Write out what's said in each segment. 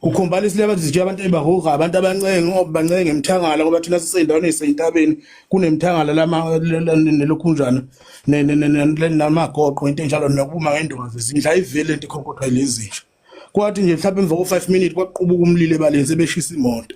Ukhombala isileba sizitshiya abantu ebahuha abantu abancenge ngoba bancenge ngemthangala ngoba thina sisendaweni esentabeni kunemthangala lama nelokhunjana namagoqo into enjalo nokuma ngendulo zindla ivele into ikhonkotha lezi nje. Kwathi nje mhlawumbe emva ko-5 minutes kwaqubuka umlilo ebaleni sebeshisa imoto.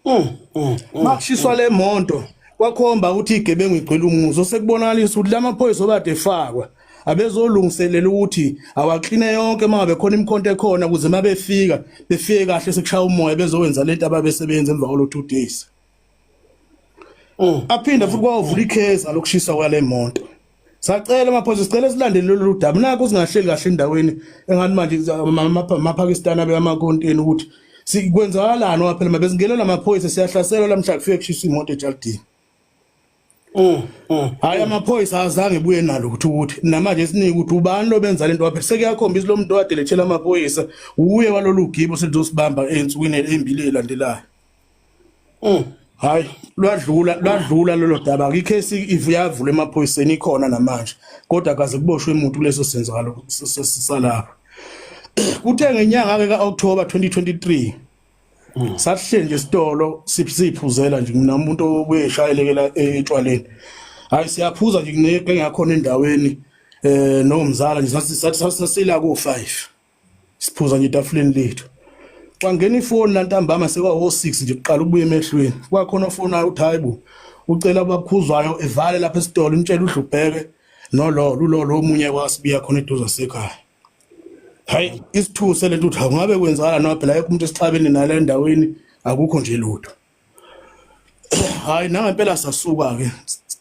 Mm, mm, mm, makushiswa le monto kwakhomba ukuthi igebengu igcwele umuzo sekubonakalisa ukuthi la maphoyisa obade efakwa abezolungiselela ukuthi awakline yonke uma ngabe khona imikhonto ekhona ukuze uma befika befike kahle sekushaya umoya bezowenza lento ababesebenza emva kwalo two days Mm. aphinde futhi kwavula ikheza lokushisa kwale moto sacela amaphoyisa sicela silandele lolu daba naku singahleli kahle endaweni engathi manje amapakistani abe amakonteni ukuthi sikwenzakalani waphela mabezingenela amaphoyisa siyahlaselwa lamhla kufike kushisa imoto ejalidini Mm, mm, hayi mm. amaphoyisa azange buye nalo ukuthi ukuthi namanje sinike ukuthi ubani lo benza lento waphe sekuyakhombisa lo muntu owadelethela amaphoyisa uye walolu gibo selizosibamba ensukwini embili elandelayo mm hayi lwadlula lwadlula lelo daba ikhesi ivuyavula emaphoyiseni ikhona namanje kodwa kaze kuboshwe umuntu kuleso senzakalo salapha kuthe ngenyanga ke ka-October 2023 Mm. Sahleli nje isitolo siphuzela nje mina umuntu obuye eshayelekela etshwaleni. Hayi siyaphuza nje kuneke ngakhona endaweni eh nomzala nje sathi sathi sasila ko 5. Siphuza nje itafuleni lethu. Kwangena ifoni lantambama sekwa ho 6 nje kuqala ukubuya emehlweni. Kwakhona ofona uthi hayibo ucela abakhuzwayo evale lapha esitolo umtshela udlubheke no lo lo omunye kwasibiya khona eduze sekhaya. hayi isithuse lento uthi ungabe kwenzakala noma phela yekho umuntu esixabene nala endaweni akukho nje lutho hayi nangempela sasuka ke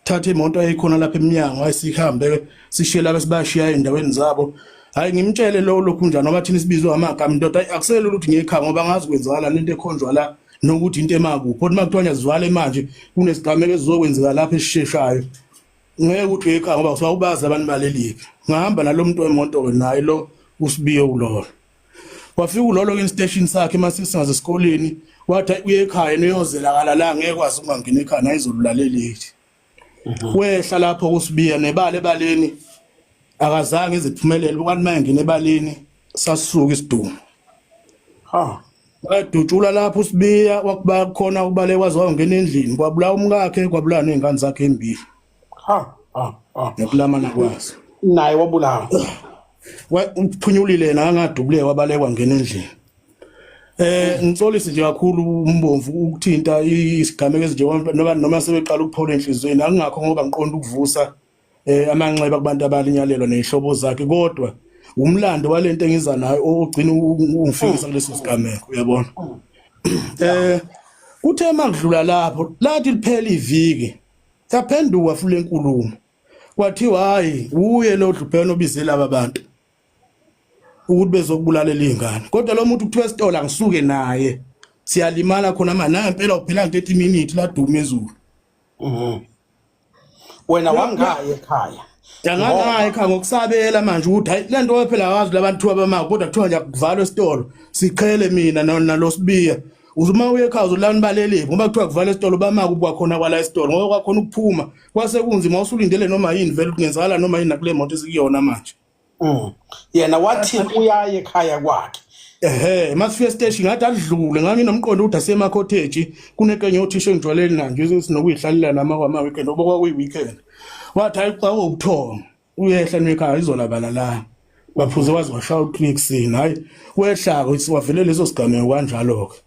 thatha imoto eyikhona lapha eminyango ayisihambe sishiye laba sibashiya endaweni zabo hayi ngimtshele lo lokhu njani ngoba thina sibizwe amagama indoda ayi akusele ukuthi ngiyekha ngoba ngazi kwenzakala lento ekhonjwa la nokuthi into emakuphi kodwa uma kuthiwa ngiyazivala manje kunesigameko esizokwenzeka lapha esisheshayo ngeke uthi uyekhaya ngoba kusuka ubazi abantu balelike ngahamba nalo muntu wemoto ke naye lo usibiye ulolo wafika ulolo ke station sakhe uma sisingaze esikoleni wathi uye ekhaya niyozela kala la ngeke kwazi ukungangena ekhaya nayizolulaleleli mhm. wehla lapho kusibiya nebala ebaleni akazange iziphumelele ukanti mayengena ebaleni sasuka isiduma ha wayedutshula lapho usibiya wakuba khona ubale kwaze wayongena endlini kwabulawa umkakhe kwabulawa nezingane zakhe embili ha ha ha nokulamana kwazo naye wabulawa uphunyulile nangadubule wabalekwa ngena endlini eh ngixolisi nje kakhulu umbomvu ukuthinta isigameko ezinjengoba noma noma sebeqala ukuphola enhlizweni akungakho ngoba ngiqonda ukuvusa eh amanxeba kubantu abalinyalelwa nezihlobo zakhe kodwa umlando walento engiza nayo ogcina ungifikisa kuleso sigameko uyabona eh kuthe makudlula lapho lathi liphela iviki yaphenduka futhi lenkulumo kwathiwa hayi uye lo dlubheno obizela laba bantu ukuthi bezokubulalela izingane kodwa lo muntu kuthiwa esitolo angisuke naye siyalimala khona manje nangempela uphela nto ethi minute ladume izulu mhm. wena wangaye ekhaya Ngangaya ekhaya ngokusabela manje ukuthi hayi lento phela wazi labantu abamako kodwa kuthiwa nje kuvalwa esitolo siqhele mina nalosibiya uzuma uye ekhaya uzolani baleliphi ngoba kuthiwa kuvala esitolo bamaka ukuba khona kwala esitolo ngoba kwakhona ukuphuma kwase kunzima usulindele noma yini vele kungenzakala noma yini nakule moto esikuyona manje Mm. yena wathi uyaye ekhaya kwakhe ehe masifika esiteshi ngathi adlule nganginomqondo ukuthi asema cottage kunekenye othisha engijwaleni na nje sinokuyihlalela nama kwama weekend oba kwakuyi weekend wathi hayi xa ubuthongo uyehla nekhaya izolabala la baphuze wazi washaya uclick sin hayi wehlako wavele leso sigameko kanjalo ke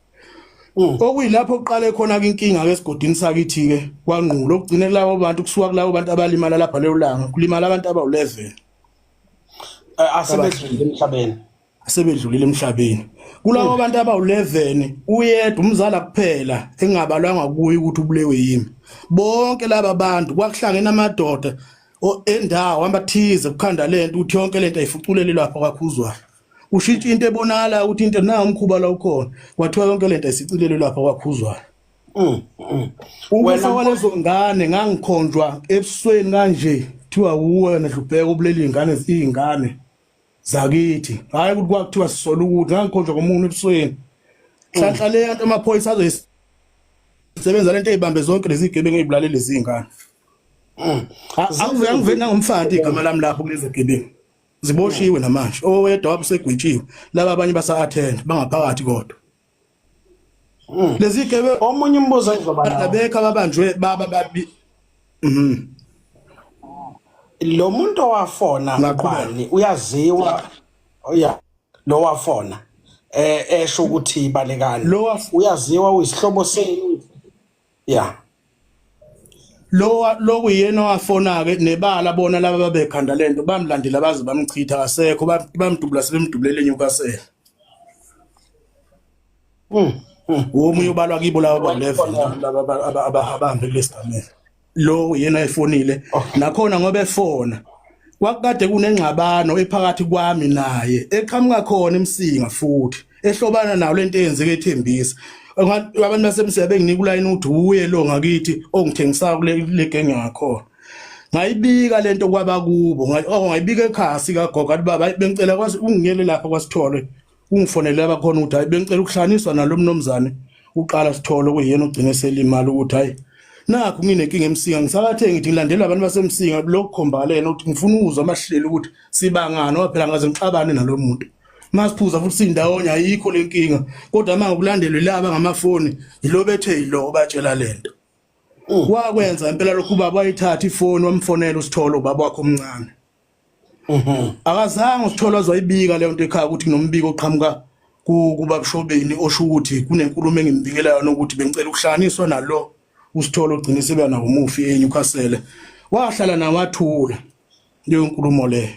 Mm. okuyilapho kuqale khona inkinga ke esigodini sakithi ke kwangqulo okugcine kulabo bantu kusuka kulabo bantu abalimala lapha leyo langa kulimala abantu abawu11 asebedlulile emhlabeni asebedlulile emhlabeni kulabo mm. bantu abawu11 uyedwa umzala kuphela engabalwanga kuye ukuthi ubulewe yimi bonke laba bantu kwakuhlangene amadoda endawo amathize kukhanda lento ukuthi yonke lento ayifuculele lapha kwakhuzwayo ushintsha into ebonakala ukuthi into na umkhuba la ukhona kwathiwa yonke lento isicilelo lapha kwakhuzwayo mm, mm. ukufa kwalezo ngane ngangikhonjwa ebusweni kanje kuthiwa uwena dlubheka ubuleli ingane izingane zakithi hayi ukuthi kwakuthiwa sisola ukuthi ngangikhonjwa komuntu ebusweni hlanhla le yanto amaphoyisa azoyisebenza lento eyibambe zonke lezi gebengu ezibulalele izingane angivena ngomfana igama lami lapho kulezi gebengu ziboshiwe namanje owedwa wabe usegwitshiwe laba abanye basa attend bangaphakathi kodwa mm. lezi gebe omunye umbuzo engizoba nawo abekho ababanjwe baba babi mhm lo muntu owafona ngaqhubani uyaziwa oya lo wafona eh esho ukuthi ibalekani uyaziwa uyisihlobo senu yeah lo lokuyena owafona ke nebala bona laba babekhanda lento bamlandela baze bamchitha kasekho bamdubula sebemdubulele enyukasela mm womunye ubalwa kibo laba baleva laba abahambe kulesigamela lo yena efonile oh. nakhona ngoba efona kwakade kunengxabano ephakathi kwami naye eqhamuka khona emsinga futhi ehlobana nawo lento eyenzeke ethembisa abantu basemsebe nginika ulayini ukuthi uye lo ngakithi ongithengisayo kule le gang yakhona ngayibika lento kwaba kubo oh, ngayibika ekhaya sikagogo athi baba bengicela kwazi ungiyele lapha kwasithole ungifonele abakhona ukuthi hayi bengicela ukuhlaniswa nalo mnomzane uqala sithole kuyena ogcine selimali ukuthi hayi nakho nginenkinga emsinga ngisakathe ngithi ngilandela abantu basemsinga lokukhombala yena ukuthi ngifuna ukuzwa amahlelo ukuthi sibangani waphela ngaze ngixabane nalo muntu masiphuza futhi sindawonye ayikho lenkinga kodwa manje ukulandelwe laba ngamafoni yilo bethe yilo obatshela lento mm. wakwenza impela lokhu baba wayithatha ifoni wamfonela usitholo baba wakho omncane mhm. akazange usitholo azoyibika leyo nto ekhaya ukuthi kunombiko oqhamuka kubabshobeni osho ukuthi kunenkulumo engimbikela yona ukuthi bengicela ukuhlanganiswa nalo usitholo ogcine sebeyana umufi eNewcastle wahlala nawathula leyo nkulumo leyo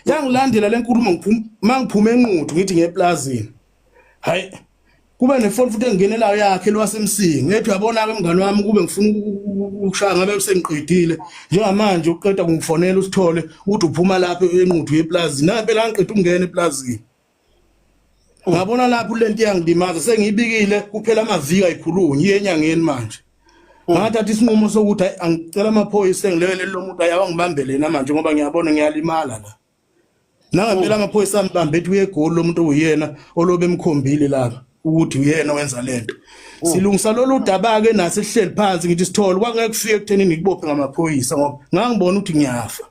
yangilandela le nkulumo uma ngiphume enquthu ngithi ngeplazini hayi kube nefoni futhi engenelayo yakhe lwasemsingi ngethi uyabona-ke mngane wami kube ngifuna ukushaya ngabe sengiqedile njengamanje uqeda kungifonela usithole ukuthi uphuma lapho enquthu yeplazini nampela angiqeda ukungena eplazini Ngabona lapho lento iyangilimaza sengiyibikile kuphela amavika ikhulunye yenyangeni manje. Mm. Ngathatha isinqumo sokuthi angicela amaphoyisa engilele lomuntu ayawa ngibambele na manje ngoba ngiyabona ngiyalimala la. Nangempela mm. amaphoyisa ambambe ethi uyegoli lomuntu uyena olobe emkhombile lapha ukuthi uyena wenza lento. Mm. Silungisa lolu daba ke nase sihleli phansi ngithi sithole kwangeke kufike ekutheni ngikubophe ngamaphoyisa ngoba ngangibona ukuthi ngiyafa.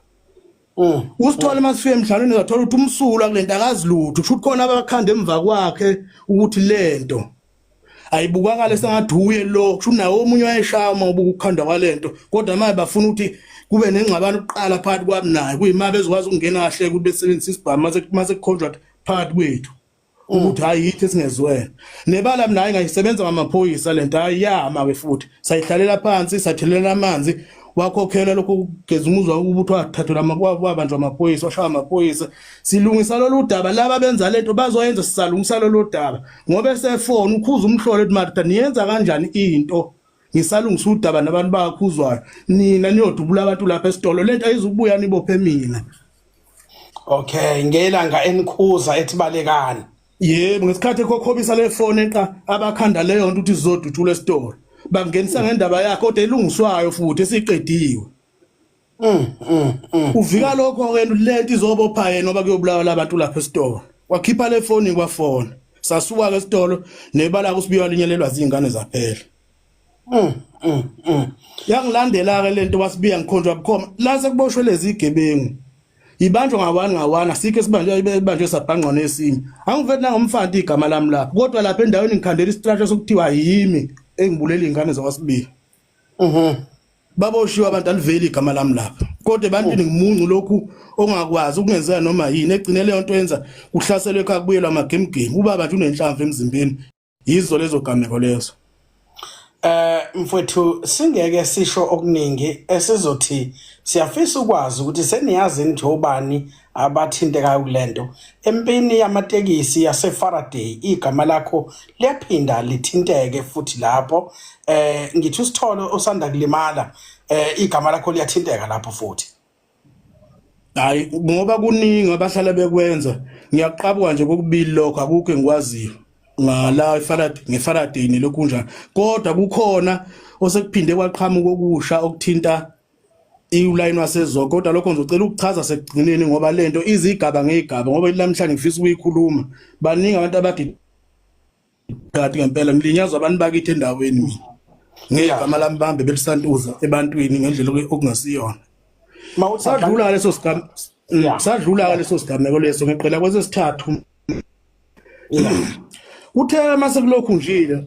Mm. Usithole uma sifike emdlalweni uzathola ukuthi umsulu akulento akazi lutho. Kusho ukuthi khona abakhanda emva kwakhe ukuthi lento ayibukakale sengathi uye lo kusho nawo omunye wayeshaya uma ubuka ukukhanda kwalento kodwa manje bafuna ukuthi kube nengxabano kuqala phakathi kwami naye kuyima bezokwazi ukungena kahle ukuthi besebenzisa isibhamu mase mase contract phakathi kwethu ukuthi hayi yithi esingezwene nebala mina hayi ngayisebenza ngamaphoyisa lento hayi yama ke futhi sayihlalela phansi sathelela amanzi wakhokhela lokho kugeza umuzwa ukuthi wathathelwa amabanjwa amaphoyisa washaya amaphoyisa silungisa lolu daba laba benza lento bazoyenza sisalungisa lolu daba ngoba esefona ukhuza umhlolo ethi marita niyenza kanjani into ngisalungisa udaba nabantu bakhuzwayo nina niyodubula abantu lapha esitolo lento ayizukubuya nibophe mina okay ngelanga enikhuza ethibalekani yebo ngesikhathi ekhokhobisa le fone eqa abakhanda leyo nto ukuthi zizodutshula esitolo bangenisa ngendaba yakhe kodwa elungiswayo futhi esiqediwe mm, mm, mm. uvika lokho ke lento izobopha yena ngoba kuyobulawa labantu lapha esitolo wakhipha le foni kwafona sasuka ke esitolo nebala kusibiwa linyelelwa zingane zaphela Mm, mm, mm. Yangilandela-ke le nto wasibiya ngikhonjwa bukhoma la sekuboshwe lezi igebengu ibanjwa ngawani ngawani asikho esibanjwa ibanjwe sabhangqwana esinye angivethi nangomfanti igama lami lapho kodwa lapha endaweni ngikhandela istratsha sokuthiwa yimi engibulela iy'ngane zakwasibili mhm. baboshiwe abantu aliveli igama lami lapha kodwa ebantwini oh. ngimuncu lokhu ongakwazi ukungenzeka noma yini egcine leyo nto yenza kuhlaselwe ekhaya kubuyelwa amagemgemu ubaba nje unenhlamvu emzimbeni yizo lezo gameko lezo eh mfowethu singeke sisho okuningi esizothi siyafisa ukwazi ukuthi seniyazi nje obani abathintekayo kulento empini yamatekisi yase Faraday igama lakho liyaphinda lithinteke futhi lapho eh ngithi usithole osanda kulimala eh igama lakho liyathinteka lapho futhi hayi ngoba kuningi abahlala bekwenza ngiyaqabuka nje kokubili lokho akukho engikwaziyo ngala ifarad ngeFaraday nelokhu kunjani kodwa kukhona osekuphinde kwaqhamuka okusha okuthinta iwulayini wasezoko kodwa lokho ngizocela ukuchaza sekugcineni ngoba lento izigaba ngegaba ngoba namhlanje ngifisa ukuyikhuluma baningi abantu abadi Kade ngempela ngilinyazwa abantu bakithi endaweni mina. Ngegama lami bambe belisantuza ebantwini ngendlela okungasiyona. Sadlula leso sigam mm, sadlula leso sigameko leso ngiqela kwesesithathu. Uthe mase kulokhu njile